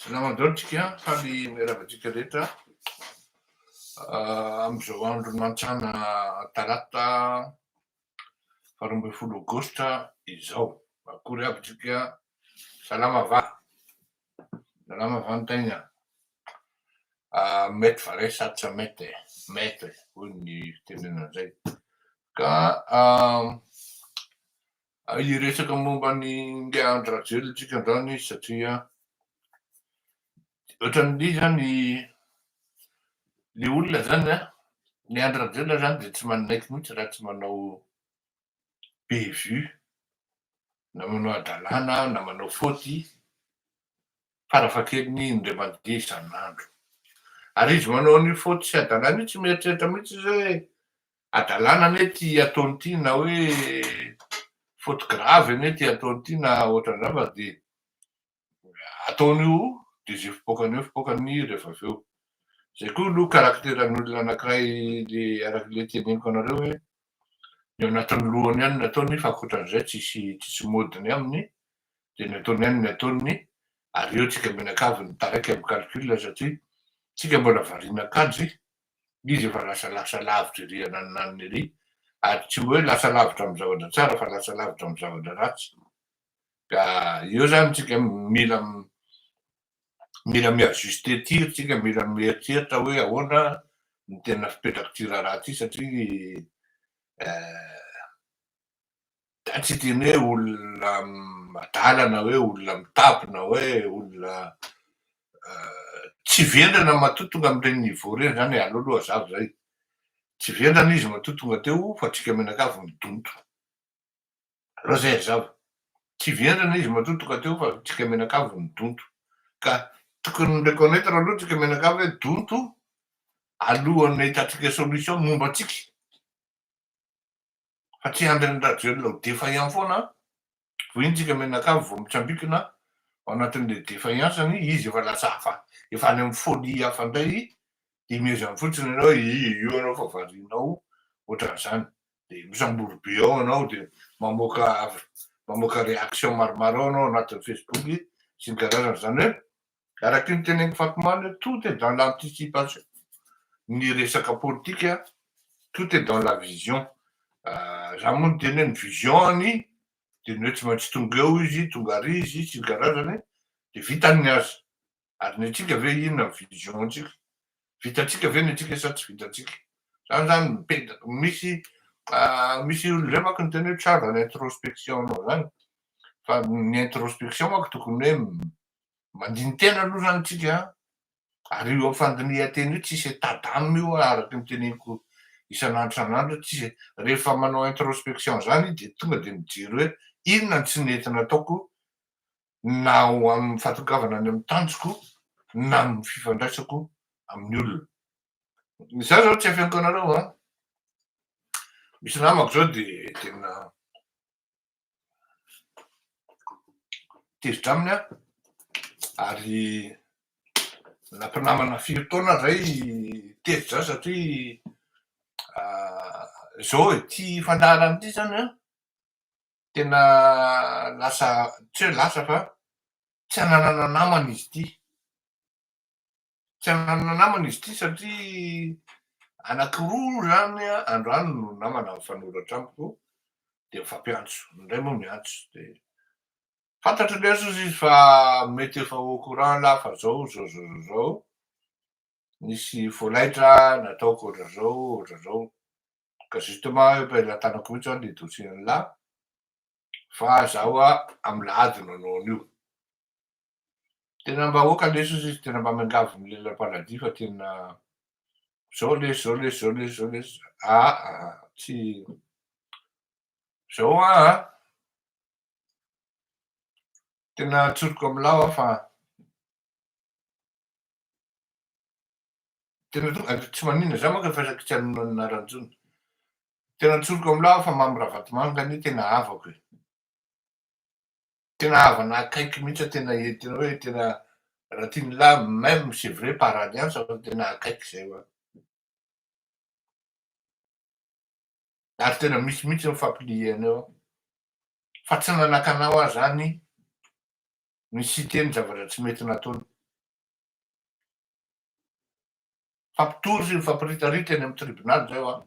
Salama amin'izao antsika, faly miarahaba antsika rehetra amin'izao andro mantsana talata faharoa ambin'ny folo aogositra izao. Akory avy antsika, salama va? Salama va ny tegna? Mety va re sa tsy mety e? Mety hoy ny fitenenana izay. Ka Hiresaka momba ny ingahy Andry Rajoelina isika androany satria ohatran'ny izany le olona zany a, ny Andry Rajoelina zany dia tsy manaiky mihitsy raha tsy manao bé vue na manao hadalana na manao faute farafahakeliny indray mandeha isan'andro. Ary izy manao an'io faute sy hadalana io tsy mieritreritra mihitsy izy hoe hadalana anie ity ataony ity na hoe faute grave anie ity ataony ity na ohatran'izany fa dia ataony io dia izay fipoakany eo fipoakany ny rehefa avy eo. Izay koa aloha karakteran'olona anankiray le araka ilay teneniko anareo hoe ny ao anatin'ny lohany ihany no ataony fa ankoatran'izay tsisy tsisy modiny aminy dia ny ataony ihany ny ataony ary eo tsika mianakavy ny taraiky am calcul satria tsika mbola variana akanjo izy efa lasa lasa lavitra ery ananonanony ery ary tsy oe lasa lavitra am zavatra tsara fa lasa lavitra am zavatra ratsy ka eo zany tsika mila mila mi ajuster tir tsika mila mieritreritra oe ahoana ny tena fipetrak'ity raharaha ty satria eh. Zany tsy teny hoe olona adala na hoe olona mitapy na hoe olona tsy vendrana matoa tonga amin'ireny niveau ireny zany e, aleo aloha hazava zay. Tsy vendrana izy matoa tonga teo fa antsika mianakavy no donto. Aleo zay hazava. Tsy vendrana izy matoa tonga teo fa antsika mianakavy no donto. Ka tokony mi-reconnaitre aloha antsika mianakavy hoe donto alohan'ny ahitantsika solution momba antsika. fa tsy handry an'i Rajoelina ho défaillant foana an! Vohintsika mianakavy vao mitsambikina ao anatin'ilay défaillance-ny, izy efa lasa hafa, efa any amin'ny folie hafa indray, dia mihezany fotsiny ianao hoe io io ianao fa varianao ohatran'izany, dia misambory be ao ianao, dia mamoaka mamoaka réaction maromaro ao ianao anatin'ny Facebook sy ny karazany, izany hoe Araky ny tenenin'i Fatmane hoe tout est dans l'anticipation, ny resaka politika tout est dans la vision, za moa niteny hoe ny vision-ny dia ny hoe tsy maintsy tonga eo izy, tonga ary izy sy ny karazany dia vitany ny azy, ary ny antsika ve inona ny vision-tsika, vitantsika ve ny antsika sa tsy vitantsika, zany zany no mipetaka, misy misy olona zay manko niteny hoe tsara ny introspection-nao zany, fa ny introspection manko tokony hoe Mandini-tena aloha zany tsika an! Ary io fandinihan-tena io tsisy état d'âme io an! Araky ny teneniko isan'andro isan'andro tsisy e! Rehefa manao introspection zany dia tonga dia mijery hoe inona ny tsy nety nataoko na ho amin'ny fahatongavana any amin'ny tanjoko na amin'ny fifandraisako amin'ny olona. Za zao tsy afeniko anareo an! Misy namako zao dia tena tezitra aminy aho ary na mpinamana firy taona zay tezitra aho satria zao ity fandaharana ity zany an, tena lasa tsy hoe lasa fa tsy hananana namana izy ity. Tsy hanana namana izy ity satria anankiroa izany androany no namana mifanoratra amiko dia mifampiantso, ny iray moa miantso dia fantatry ny jesosy izy fa mety efa au courant lah fa zao zao zao zao zao nisy volaitra nataoko ohatra zao ohatra zao ka justement eo am-pelatanako mihitsy izany dia dossier an'lah fa za hoa amin'ny lahady no hanao an'io. Tena mba ok lesy ozy izy tena mba miangavy ny lehilahy paradis fa tena zao lesy zao lesy zao lesy zao lesy aa tsy zao a tena tsoriko amin'ilao aho fa tena to tsy maninona za manko efa saika tsy hanonona ny anarany intsony tena tsoriko amin'ilao aho fa Mamy Ravatomanga anie tena havako e Tena havana akaiky mihitsy an, tena e, tena hoe tena raha tian'i la même c'est vrai par alliance fa tena akaiky izay ho'a. Ary tena misy mihitsy ny fampiliana eo fa tsy nanakana ho'a izany ny citer ny zavatra tsy mety nataony. Fampitory sy fampiritarita eny amin'ny tribonaly izay ho'a.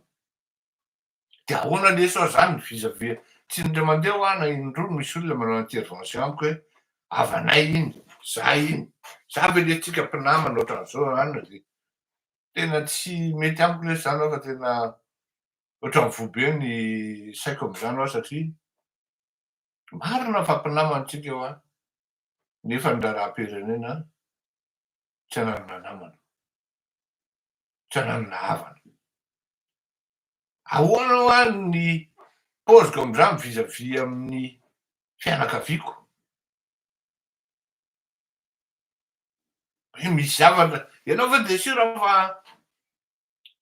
De ahoana lesy oa zany ny visa ve tsy indray mandeha oa na indroa misy olona manao intervention amiko hoe havanay iny za iny za ve lesy tsika mpinamana ohatran'zao anona de tena tsy mety amiko lesy zany oa fa tena ohatran'ny voa be ny saiko am'zany oa satria marina fa mpinamana tsika oa nefa ny raharaham-pirenena tsy ananana namana tsy ananana havana Ahoana hoa ny paoziko amin'izany vis à vis amin'ny fianakaviako? Hoe misy zavatra, ianao ve dia sûr fa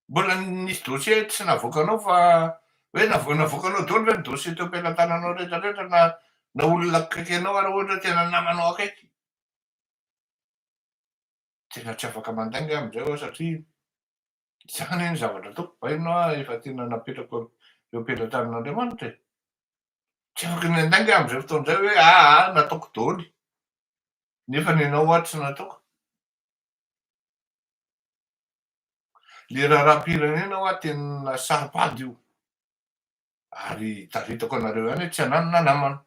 mbola nisy dossier tsy navoakanao fa hoe navo- navoakanao daholo ve ny dossier teo am-pelatananao rehetra rehetra na na olona akaiky anao ary ohatra hoe tena namanao akaiky? Tena tsy afaka mandainga aho amin'izay aho satria Izany anie ny zavatra ataoko, vainona aho efa tena napetrako eo am-pelatranan'Andriamanitra e! Tsy afaka ny handainga aho amin'izay fotoana izay hoe aa nataoko daholo nefa ny anao ho'a tsy nataoko. Le raharaham-pirenena ho'a tena saro-pady io ary tafitako anareo ihany hoe tsy ananona namana.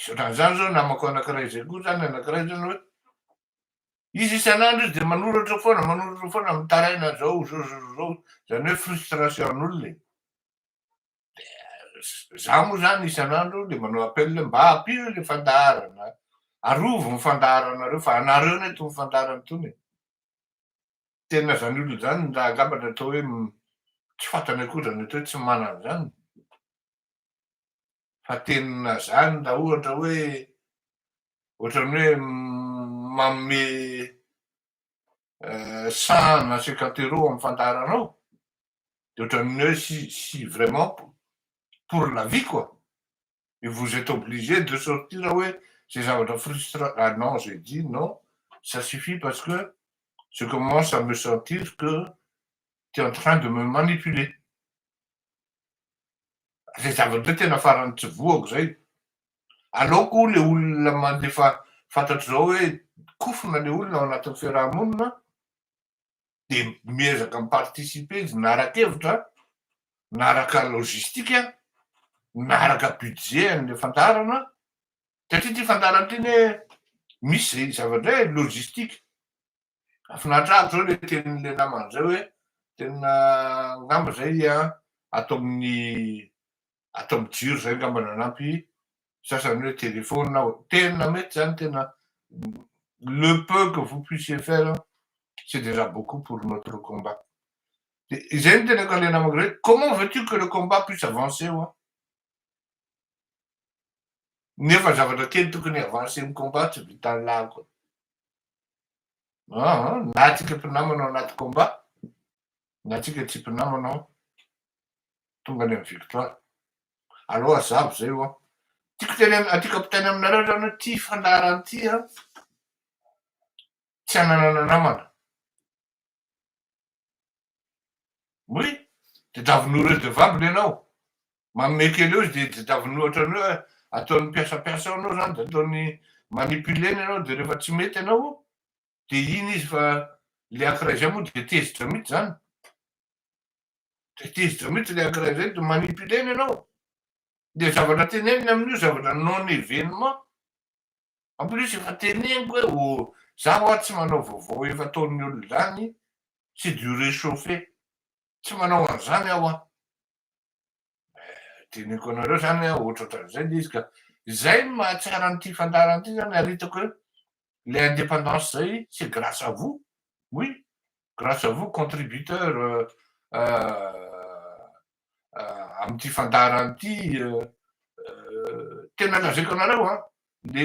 Misy ohatran'izany izao namako anankiray izay koa izany, anankiray izany hoe izy isan'andro izy dia manoratra foana, manoratra foana mitaraina izao, izao, izao, izao, izany hoe frustration'olona e. Dia za moa izany isan'andro dia manao appel hoe mba ampio ilay fandaharana, arovy ny fandaharanareo fa anareo anie itony fandaharana itony e. Tena izany olona izany angamba ny atao hoe tsy fantany akory izany atao hoe tsy manana izany. fa tenina zany raha ohatra hoe ohatran'ny hoe manome saha na cinquante euros amin'ny fandaharanao dia ohatran'ny hoe si si vraiment pour la vie quoi et vous êtes obligé de sortir hoe zay zavatra frustra ah non j'ai dit non ça suffit parce que je commence à me sentir que tu es en train de me manipuler Zay zava-dreo tena farany tsy voako zay. Aleoko hono le olona mandefa fantatro zao hoe kofona le olona ao anatin'ny fiaraha-monina de miezaka mi-participer izy miara-kevitra, miaraka logistique, miaraka budget an'le fandaharana, satria ty fandaharana ty anie misy zay zava-dray e, logistique, Finaritra aby zao le tenin'le namany zay hoe tena ngamba zay a ato amin'ny ato amin'ny jiro zay ngamba nanampy sasany hoe téléphone na tena mety zany tena le peu que vous puissiez faire c'est déjà beaucoup pour notre combat de izay ny tenako an'le namako zay comment veux-tu que le combat puisse avancer ho'a nefa zavatra kely tokony avancer ny combat tsy vitan'ny lahiko Aa na atsika mpinamana ao anaty combat na atsika tsy mpinamana ao tonga any am victoire alou azabo zay oa tiko teny am aty kapitainy aminareo zany oe ty fandaharan ty an tsy ananana namana Oui, didavon'io redevable ianao, manome kely eo izy dia didavon'io ohatran'ny hoe ataony mpiasam-piasa eo ianao izany dia ataony manipuler-ny ianao dia rehefa tsy mety ianao dia iny izy fa ilay ankiray izay moa dia tezitra mihitsy izany, dia tezitra mihitsy ilay ankiray izay dia manipuler-ny ianao, ilay zavatra teneniny amin'io zavatra non-événement. En plus efa teneniko hoe oh za ho'a tsy manao vaovao efa ataon'ny olona izany, c'est du rechauffer, tsy manao an'izany aho an! Teneniko anareo izany hoe ohatra ohatran'izay ilay izy ka! Izay no mahatsara an'ity fandaharana ity izany ary hitako hoe ilay indépendance izay c'est grâce à vous, oui, grâce à vous contributeurs amin'ity fandaharana ity tena lazaiko anareo a le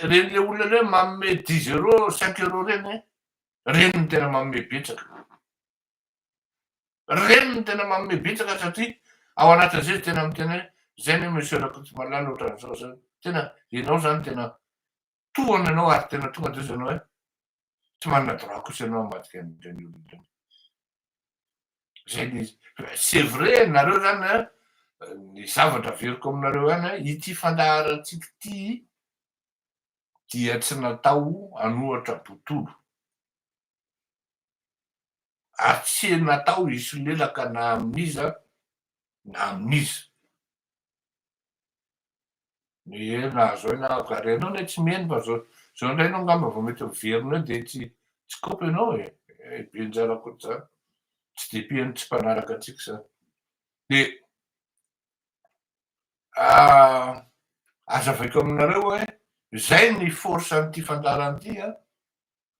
reny le olona le manome dix euro cinq euro reny reny no tena manome betsaka reny no tena manome betsaka satria ao anatin'izay izy tena miteny hoe zay ne monsieur Rakotomalala ohatran'izao zany tena ianao zany tena tohana anao ary tena tonga de ozy anao hoe tsy manana droit kosa ianao hamadika an'ireny olona ireny. Zay le izy. C'est vrai nareo zany an, ny zavatra averiko aminareo any an, ity fandaharantsika ity dia tsy natao hanohatra botolo. ary tsy natao hisolelaka na amin'iza na amin'iza. Ee nahazo aina aho ka, ary ianao anie tsy miheno fa zao zao indray ianao angamba vao mety miverina eo dia tsy tsy kopy ianao e, ee be njara koa zany, tsy dia mpiheno tsy mpanaraka antsika zany, dia azavaiko aminareo hoe zay ny force an'ity fandaharana ity an,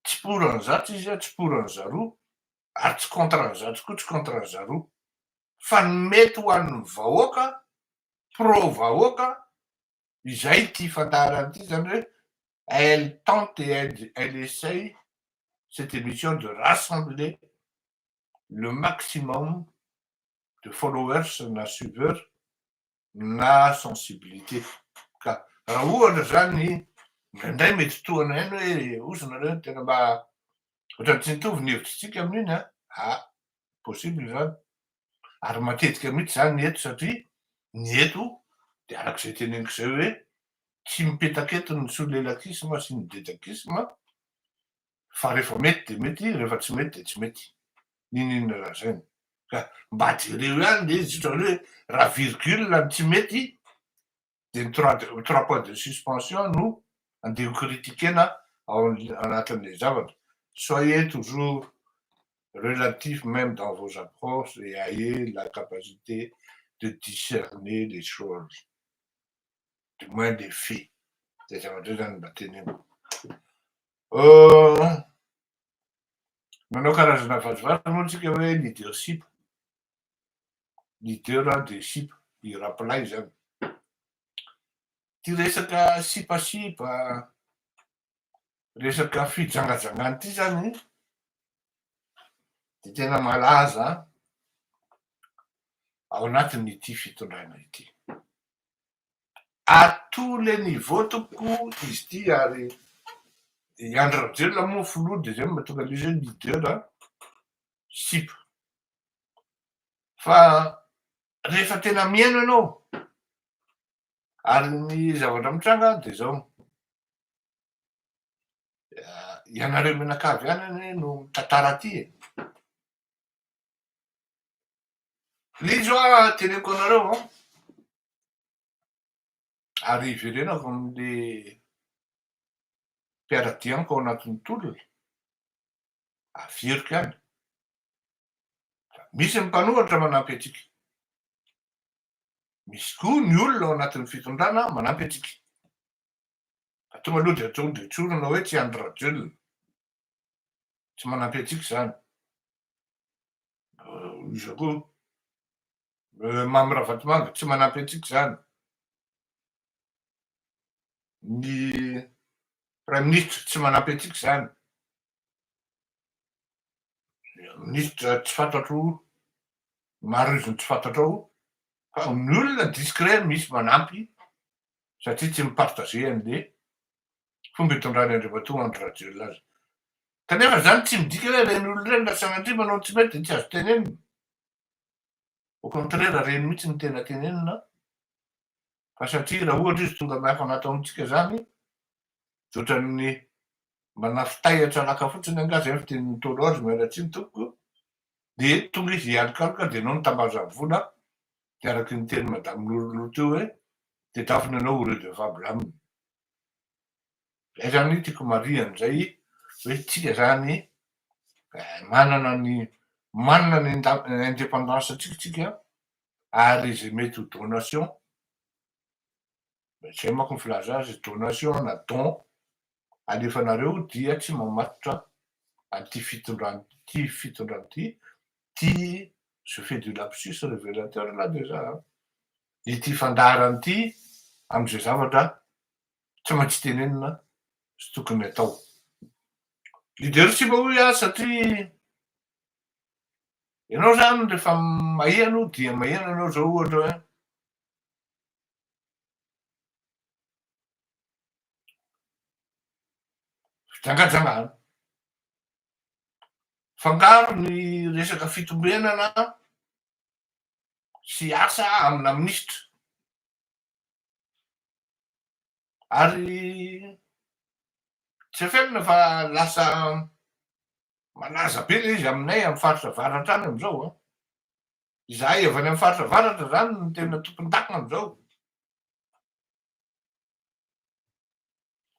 Tsy pour an'i zato izy a, tsy pour an'i zaroa, ary tsy contre an'i zato koa, tsy contre an'i zaroa. Fa ny mety ho an'ny vahoaka, pro vahoaka, izay ity fandaharana ity izany hoe elle tente et elle essaye cette émission de rassembler le maximum de followers na suiveurs na sensibilité ka raha ohatra zany indraindray mety tohana ihany hoe ozy nareo tena mba ohatrany tsy mitovy ny hevitritsika amin'iny a a possible zany ary matetika mihitsy zany eto satria ny eto de arak'izay teneniko zay hoe tsy mipetaka eto ny solelakisma sy ny dedakisma fa rehefa mety dia mety, rehefa tsy mety dia tsy mety, n'inon'inona lazainy. Ka mba jereo ihany le izy otrany hoe raha virgule no tsy mety dia ny trois de trois points de suspension no andeha ho critiquena ao anatin'ilay zavatra. Soyez toujours relatif même dans vos approches et ayez la capacité de discerner les choses, du moins les faits, zay zavatra zay zany mba teneniko. Manao karazana vazivazina moa tsika hoe leadership, leader an dia ship, i Rapolay izany. Ity resaka sipasipa, resaka fijangajangana ity izany dia tena malaza ao anatin'ity fitondrana ity. à tous les niveaux tompoko izy ity ary i Andry Rajoelina moa filoha dia izay no mahatonga an'io izay leader a sipa fa rehefa tena mihaino ianao ary ny zavatra mitranga dia izao ianareo mianakavy ihany anie no mitantara aty e Indrindra aho teneniko anareo an! Ary iverenako amin'le mpiara-dia amiko ao anatin'ny tolona, averiko ihany, fa misy ny mpanohatra manampy antsika, misy koa ny olona ao anatin'ny fitondrana manampy antsika, fa tonga aloha dia tonga dia tsorina hoe tsy Andry Rajoelina, Tsy manampy antsika izany. Iza koa? Mamy Ravatomanga, tsy manampy antsika izany. Ny praiminisitra tsy manampy antsika izany. Minisitra tsy fantatro maro izy ny tsy fantatrao fa ny olona discret misy manampy satria tsy mi-partager an'le fomba itondran'i Andriamatoa Andry Rajoelina azy. Kanefa izany tsy midika hoe ireny olona ireny na Sanadriana no tsy mety dia tsy azo tenenina. Au contraire, ireny mihitsy no tena tenenina fa satria raha ohatra izy tonga miafana ato amintsika izany dia ohatran'ny manafitahitra laka fotsiny angaha izay ny fitenin'ny Ntaolo azy, miala tsiny tompoko, dia tonga izy hialokaloka dia ianao no tambazany vola dia araka ny tenin'i Madame Noro Noro teo hoe dia drafono ianao au lieu de mivabla aminy. Zay zany tiako marihana izay hoe tsika zany manana ny manana ny independance antsika tsika ary izay mety ho donation zay manko ny filaza azy donation na don alefanareo dia tsy mamatotra an'ity fitondrana ity fitondrana ity ity je fais du lapsus revelateur là déjà an, ity fandaharana ity amin'izay zavatra tsy maintsy tenenina sy tokony atao. Leadership hoy aho satria ianao zany rehefa maheno dia maheno ianao zao ohatra hoe fijangajangana. Fangaro ny resaka fitombenana sy asa amina minisitra. Ary tsy afenina fa lasa malaza be ilay izy aminay amin'ny faritra avaratra any amin'izao an! Izahay avy any amin'ny faritra avaratra izany no tena tompon-daka amin'izao.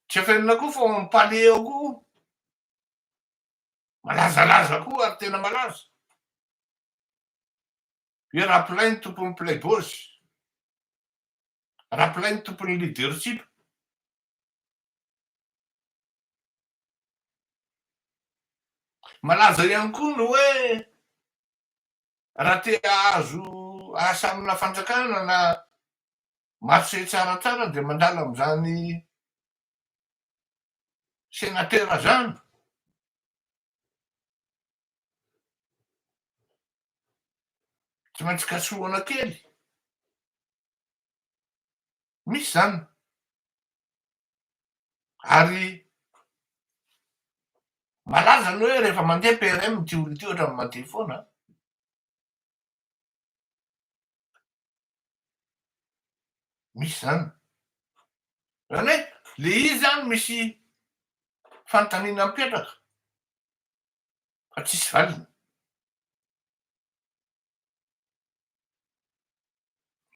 Tsy afenina koa fa ao amin'ny palais ao koa Malazalaza koa ary tena malaza. Hoe Raplainy tompon'ny Playboys. Raplainy tompon'ny leadership. Malaza ihany koa ny hoe raha te hahazo asa amina fanjakana na marché tsaratsara dia mandala amin'izany Senatera zany. Tsy maintsy kasohana kely. Misy zany. Ary malaza aloha hoe rehefa mandeha PRM ity olona ity ohatrany mandeha foana. Misy zany. Zany hoe le izy zany misy fanontaniana mipetraka fa tsisy valiny.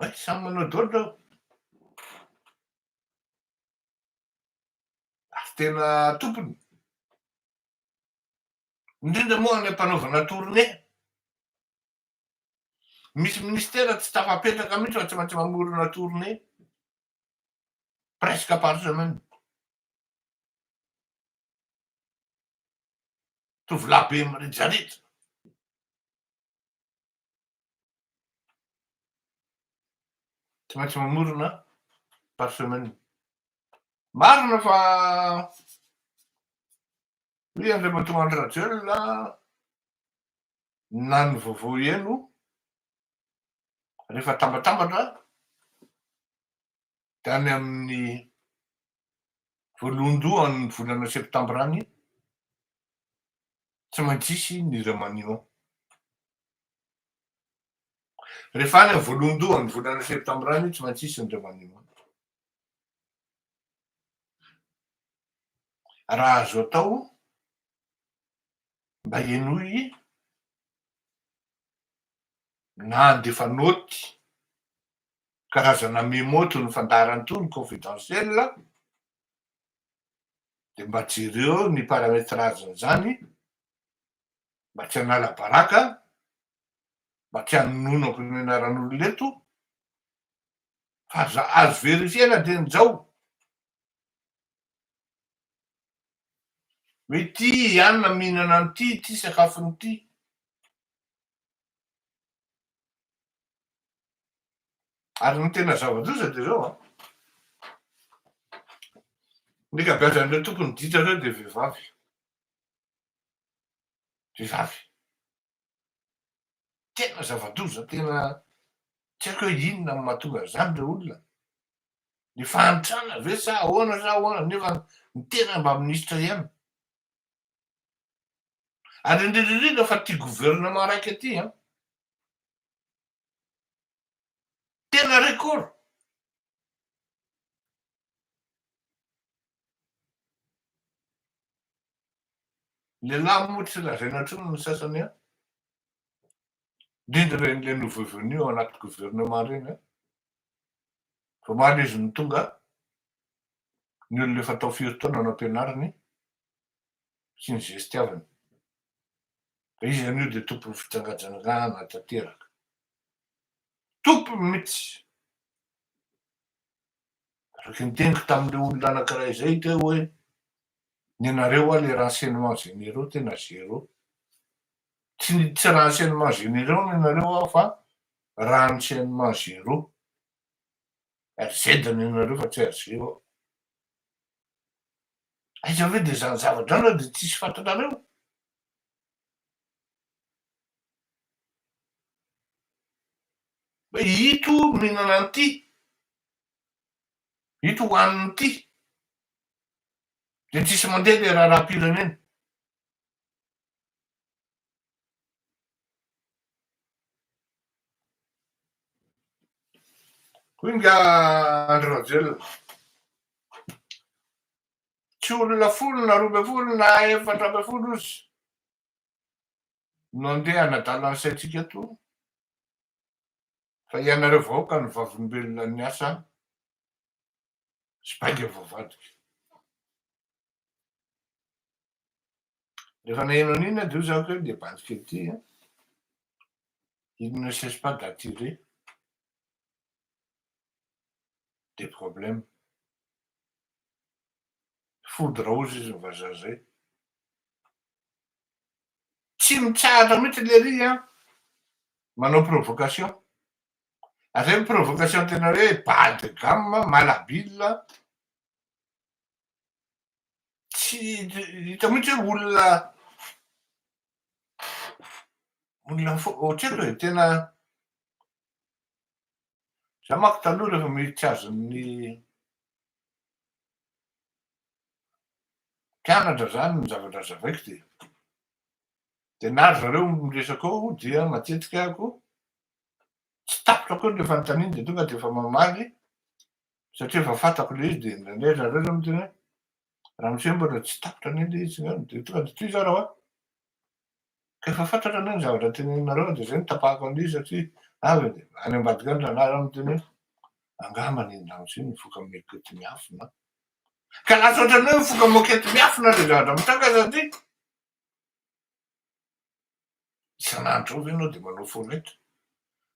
Hay samy manao dôdy zao. Ary tena tompony. Indrindra moa any am-panaovana tournée. Misy ministera tsy tafapetraka mihitsy fa tsy maintsy mamorona tournée presque par semaine. Tovolahy be mirejareja. Tsy maintsy mamorona par semaine. Marina fa hoy Andriamatoa Andry Rajoelina na ny vovoy eno rehefa tambatambatra dia any amin'ny voalohandohan'ny volana septambra any tsy maintsy hisy ny remaniement. Rehefa any amin'ny voalohandohan'ny volana septambra any tsy maintsy hisy ny remaniement. Raha azo atao mba henoy na handefa naoty, karazana memo toy ny fandaharana toy ny confidentiel, dia mba jereo ny paramétrage an'izany mba tsy hanala baraka, mba tsy hanonono am-pampianaran'olona eto, fa azo verifier-na hatramin'izao Mitia i Anna mihinana an'ity ity sakafony ity. Ary ny tena zava-doza dia izao an. Ny ankabeazan'ireo tompony ditra ireo dia vehivavy. Vehivavy. Tena zava-doza, tena tsy haiko hoe inona no mahatonga an'izany ilay olona. Ny fahantrana ve sa ahoana sa ahoana nefa ny tena mba minisitra ihany. Ary indrindra indrindra fa ity gouvernement raika ity an, Tena record. Lehilahy moa tsy lazaina intsony ny sasany an! Indrindra ireny le nouveau venu ao anaty gouvernement ireny an! Vao omaly izy no tonga an! Ny olona efa tao firy taona no ampianariny sy ny zestiaviny. Izy anio dia tompon'ny fijangajangana tanteraka. Tompony mihitsy. Araky ny teniko tamin'ilay olona anankiray izay teo hoe ny anareo hoa ilay renseignement généraux tena zéro. Tsy ny tsy renseignement généraux ny anareo hoa fa renseignement zéro. RZ ny anareo fa tsy RG hoa. Aiza ve dia izany zava-drano dia tsisy fantanareo? Ito mihinana an'ity, ito hohanina ity, dia tsisy mandeha ilay raharaham-pirenena. Hoy nga Andry Rajoelina, tsy olona folo na roa ambin'ny folo na efatra ambin'ny folo ozy no andeha hanadala ny saintsika eto fa ianareo vahoaka no vavolombelona ny asa sy bainga voavadika. Rehefa naheno an'iny aho dia hoy za hoe le bandika ity a, il ne cesse pas d'attirer des problèmes. Fody raozy izy ny vazaha zay. Tsy mitsahatra mihitsy lery an, manao provocation. Zay ny provocation tena hoe bas de gamme, malhabile, tsy hita mihitsy hoe olona, olona tsy haiko e, tena Za manko taloha rehefa miditra azon'ny mpianatra zany ny zavatra azavaiko de de na ry zareo miresaka eo dia matetika ako tsy tapitra koa le fanontaniany de tonga de efa mamaly satria efa fantako le izy de indraindray zareo zany miteny hoe ramose mbola tsy tapitra anie le izy de tonga de tohizo aho raha hoe Rehefa fatratra anie ny zavatra teneninareo dia zay no tapahako an'io satria avy anie any ambadika any raha narary miteny hoe angamba ny andanitra io mivoka mekety miafina an! Ka lasa ohatran'ny hoe mivoka mokety miafina ilay zavatra mitranga satria isan'andro eo ve ianao dia manao fo reto?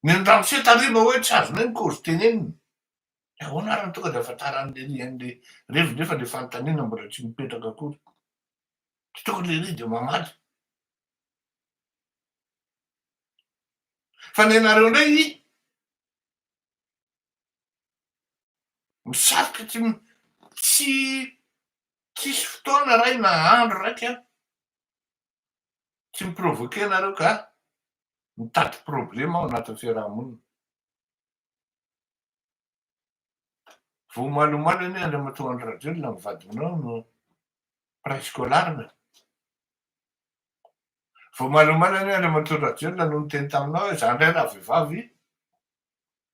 Ny an'i ramose tariba hoe tsy azonay ny kozy tenenina dia ahoana ary no tonga dia ahafantaran'i lery an'ilay reviny rehefa ilay fanontaniana mbola tsy mipetraka akory? tsy tokony lehilahy dia mamaly fa ny anareo indray misafoka tsy tsy tsisy fotoana ray na andro raiky an tsy miprovoke anareo ka mitady problema ao anatin'ny fiarahamonina Vao omaly omaly anie Andriamatoa Andry Rajoelina ny vadinao no prescolarne. Vao omaly omaly anie Andriamatoa Rajoelina no niteny taminao hoe za ndray raha vehivavy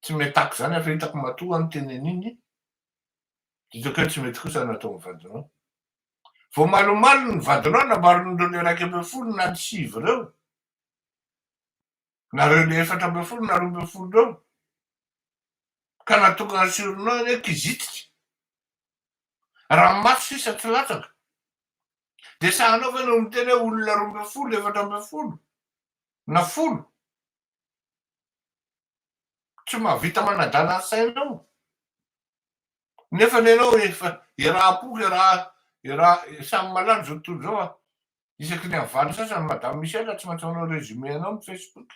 tsy metaky zany aho fa hitako matoa ny teny an'iny hitako hoe tsy mety kosa ny ataon'ny vadinao. Vao omaly omaly ny vadinao nambaran'ireo le iraika ambin'ny folo na ny sivy ireo Nareo le efatra ambin'ny folo na roa ambin'ny folo reo ka natokana sur nom anie kizitika, raha maty sisa tsy latsaka de sahanao ve no miteny hoe olona roa ambin'ny folo, efatra ambin'ny folo na folo? Tsy mahavita manadala ny sainao nefany ianao efa iaraha-poko, iaraha, iaraha, samy malala zao tontolo zao fa Isaky ny avaly sasany madame Michelle tsy maintsy manao résumé anao ny Facebook.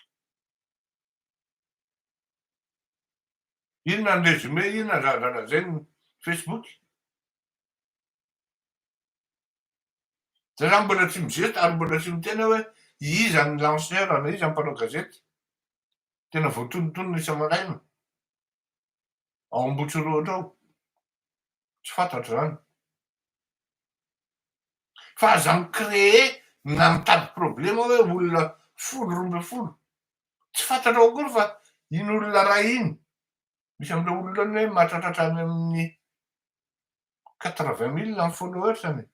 Inona ny résumé inona ny zavatra lazainy ny Facebook. Za zany mbola tsy mizesta ary mbola tsy miteny hoe iza ny lanceur na iza ny mpanao gazety. Tena voatonontonona isa-maraina. ao Ambohitsorohitra ao. Tsy fantatro zany. Fa aza mi-cree na mitady problema hoe olona folo roa ambin'ny folo. Tsy fantatrao akory fa iny olona ray iny, misy amin'ireo olona ireo anie mahatratratra any amin'ny quatre vingt mille ny followers-ny e.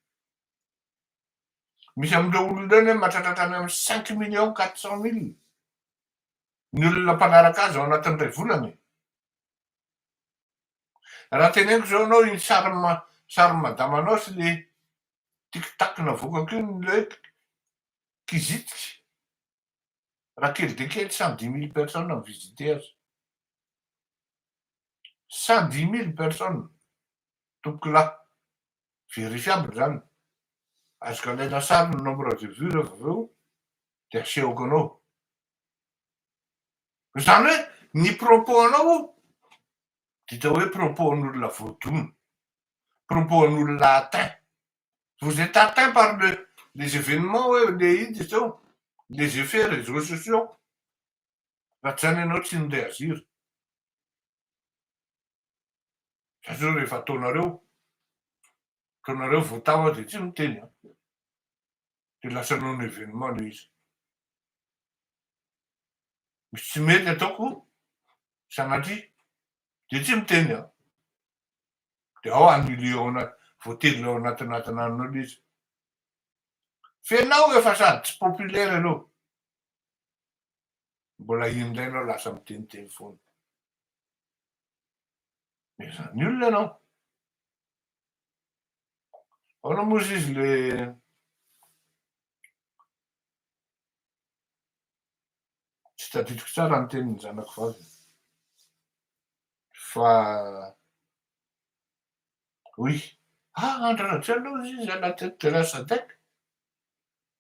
Misy amin'ireo olona ireo anie mahatratratra any amin'ny cinq millions quatre cent mille. ny olona mpanaraka azy ao anatin'ny iray volana e! Raha teneniko izao anao iny sarin'ny sarin'ny madamanao sy le tiktak navoakako iny ny hoe kizititry raha kely dia kely cent dix mille personnes mi-visiter azy. Cent dix mille personnes tompokolahy, verifiable izany, azoko alaina sary ny nombre de vues revô avy eo dia asehoko anao. Izany hoe ny propos-nao dia atao hoe propos-n'olona voadona, propos-n'olona atteint. Vous êtes atteint par le, les événements hoe le inona izy io, les effets réseaux sociaux. Raha tsy izany ianao tsy ni-reagir. Satria rehefa ataonareo, ataonareo vao tava dia tsy miteny an. Dia lasa non événement ilay izy. Misy tsy mety ataoko sanatria dia tsy miteny an. Dia ao anile ao anaty voatily ao anatinatina anao ilay izy. Fenao efa sady tsy populaire ianao. Mbola inona indray ianao lasa miteniteny foana. Efa ny olona ianao. Ahoana moa izy ilay tsy tadidiko tsara ny tenin'ny zanako vavy fa oui ah Andry Rajoelina hoy izy à la tête de la SADEC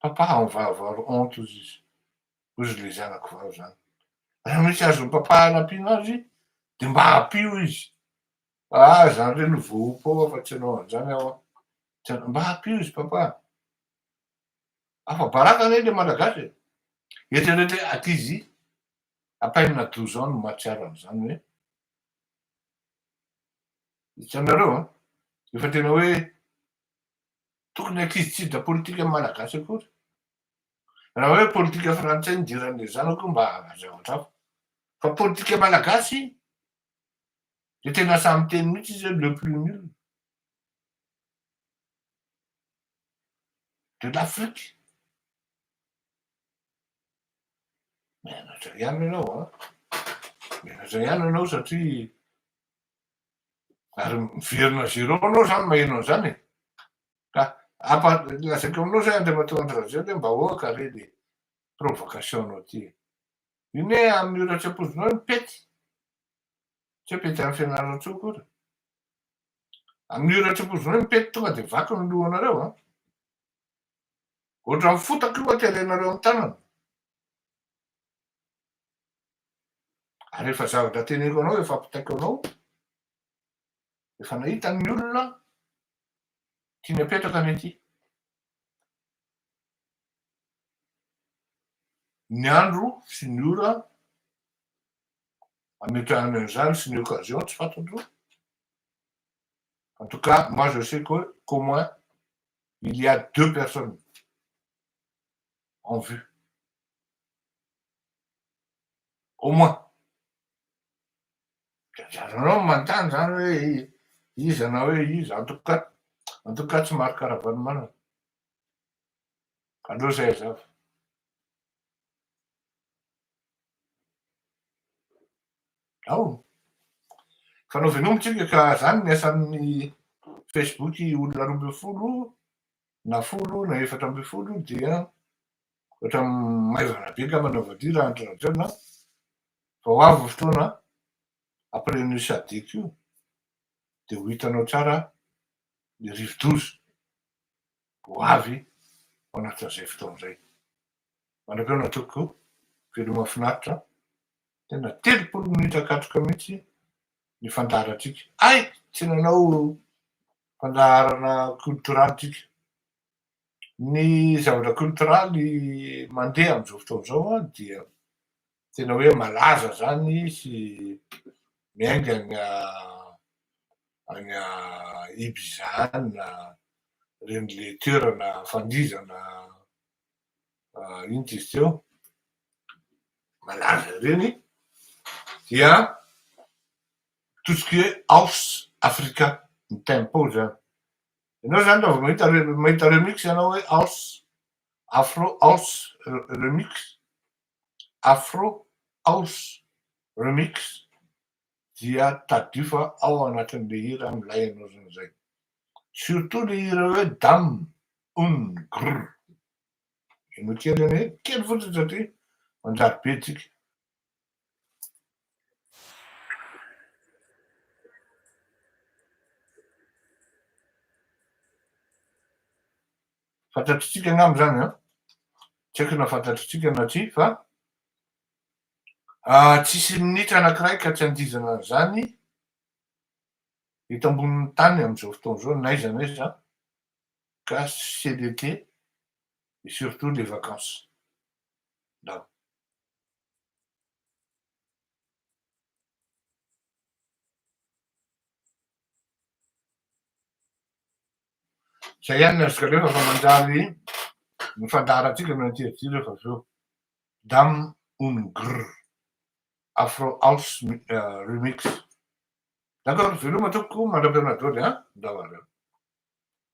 Papaho ny vaovao ry honte hozy izy, hozy ilay zanako vavy zany, raha mety azon'i papa anampiana azy dia mba ampio izy fa ahy zany re no voaompa ao afa tsy ianao anzany aho an, tena mba ampio izy papa an, afa baraka anie ilay malagasy e, eritrereto hoe aty izy à peine à douze ans no mahatsiaro an'izany hoe, hitanareo an, efa tena hoe. Tokony ankizy tsy hiditra politika malagasy akory. Raha hoe politika frantsay nidiran'ilay zanako mba aza zavatra fa politika malagasy dia tena sahy miteny mihitsy izy hoe le plus nul de l'Afrique. Mianatra ihany ianao an. Mianatra ihany ianao satria Ary miverina à zéro anao zany maheno an'izany e! Ka ampa lazaiko aminao zay Andriamatoa Andry Rajoelina hoe mba ahoaka re le provocation anao ty e! Io ne amin'io ratsapozonao io mipety! Tsy hoe pety an'i Fianarantsoa akory. Amin'io ratsapozonao io mipety tonga de vaky ny lohanareo an! Ohatran'ny fotaka io aterenareo amin'ny tanana. ary efa zavatra teneniko anao efa ampitaiko anao efa nahita ny olona tiany apetraka any aty ny andro sy ny ora ametrahana an'izany sy ny occasion tsy fantatro en tout cas moi je sais que qu'au moins il y a deux personnes en vue Au moins. Dia ajanonao ny manontany izany hoe iza na hoe iza. En tout cas, en tout cas tsy Marc Ravalomanana. Aleo izay hazava. Ao. Fanao veloma tsika ka zany ny asan'ny Facebook olona roa ambin'ny folo na folo na efatra ambin'ny folo dia Ohatra maivana be ngamba ny overdue raha andry rajoelina fa ho avy ny fotoana après an'io sadc io dia ho hitanao tsara ny rivodoza ho avy ao anatin'izay fotoana izay manam-peona tompoko veloma finaritra tena telopolo minitra katroka mihitsy ny fandaharantsika ay tsy nanao fandaharana cultural tsika Ny zavatra culturaly mandeha amin'izao fotoana izao an dia tena hoe malaza izany sy miainga any any Ibiza any na ireny le toerana fandihizana inona izy teo malaza ireny dia tout ce qui est house africa ny tempo izany. Ianao zany raha vao mahita mahita remix ianao hoe house, afro house remix, afro house remix dia tadidio fa ao anatin'ilay hira milay ianao zany zay. Surtout le hira hoe dam un grr. Henoy kely anie, kely fotsiny satria manjary be tsika. Fantatritsika angamba izany a, tsy haiko na fantatritsika na tsia fa tsisy minitra anankiray ka tsy andihizana an'izany eto ambonin'ny tany amin'izao fotoana izao n'aiza n'aiza ka c'est l'été et surtout les vacances. Zay ihany ny azoko alefa fa manjary ny fandaharantsika no interdire refa avy eo. Dam un grr afro house remix. D'accord, veloma tompoko, mandram-perinadro ry an-dRavareo.